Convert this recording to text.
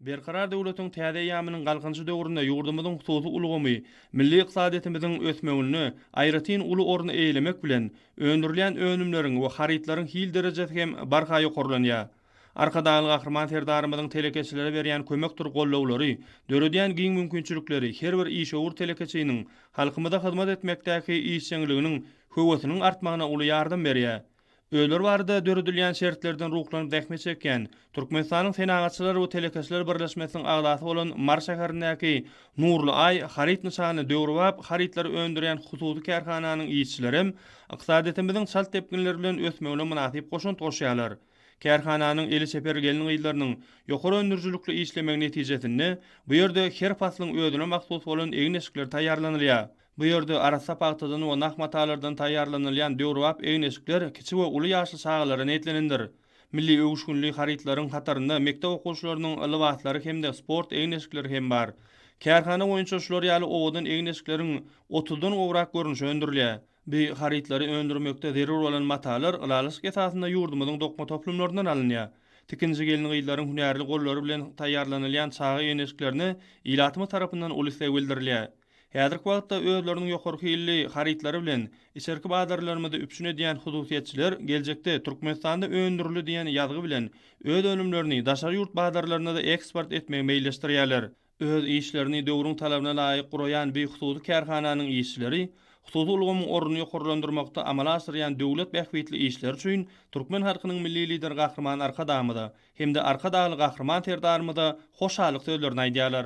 Berkarar döwletiň täze eýýamynyň Galkynyşy döwründe ýurdumyzyň hususy ulgamy milli ykdysadyýetimiziň ösmeginde aýratyn uly orny eýelemek bilen, öndürilýän önümleriň we harytlaryň hil derejesi hem barha ýokarlanýar. Arkadagly Gahryman Serdarymyzyň telekeçilere berýän kömekdir gollawlary, döredýän giň mümkinçilikleri her bir işewür telekeçiniň halkymyza hyzmat etmekdäki işjeňliginiň höwesiniň artmagyna uly ýardam berýär. Öýler barada döredilýän şertlerden ruhlanyp zähmet çekýän, Türkmenistanyň Senagatçylar we telekeçiler birleşmesiniň agzasy bolan Mary şäherindäki Nurly Aý haryt nyşanly döwrebap harytlary öndürýän hususy kärhananyň işçilerem ykdysadyýetimiziň çalt depginler bilen ösmegine mynasyp goşant goşýarlar. Kärhananyň eli çeper gelin-gyzlarynyň ýokary öndürijilikli işlemegi netijesinde bu ýerde her paslyň özüne mahsus bolan egin-eşikler taýýarlanylýar. Bu ýerde arassa pagtadan we nah matalardan taýýarlanylýan döwrebap egin-eşikler kiçi we uly ýaşly çagalara niýetlenendir. Milli öwüşginli harytlaryň hatarynda mekdep okuwçylarynyň lybaslary hem-de sport egin-eşikleri hem bar. Kärhana boýunça şular ýaly owadan egin-eşikleriň otuzdan gowrak görnüşi öndürilýär. Bu harytlary öndürmekde zerur bolan matalar ylalaşyk esasynda ýurdumyzyň dokma toplumlaryndan alynýar. Tikinçi gelin-gyzlaryň hünärli gollary bilen taýýarlanylýan çaga egin-eşiklerine ilatymyz tarapyndan uly isleg bildirilýär. Häzirki wagtda özleriniň ýokary hilli harytlary bilen içerki bazarlarymyzy üpjün edýän hususyýetçiler geljekde Türkmenistanda öndürildi diýen ýazgy bilen öz önümlerini daşary ýurt bazarlaryna-da eksport etmegi meýilleşdirýärler. Öz işlerini döwrüň talabyna laýyk guraýan bu hususy kärhananyň işçileri hususy ulgamyň ornuny ýokarlandyrmakda amala aşyrýan döwlet bähbitli işleri üçin türkmen halkynyň Milli Lideri Gahryman Arkadagymyza hem-de Arkadagly Gahryman Serdarymyza hoşallyk sözlerini aýdýarlar.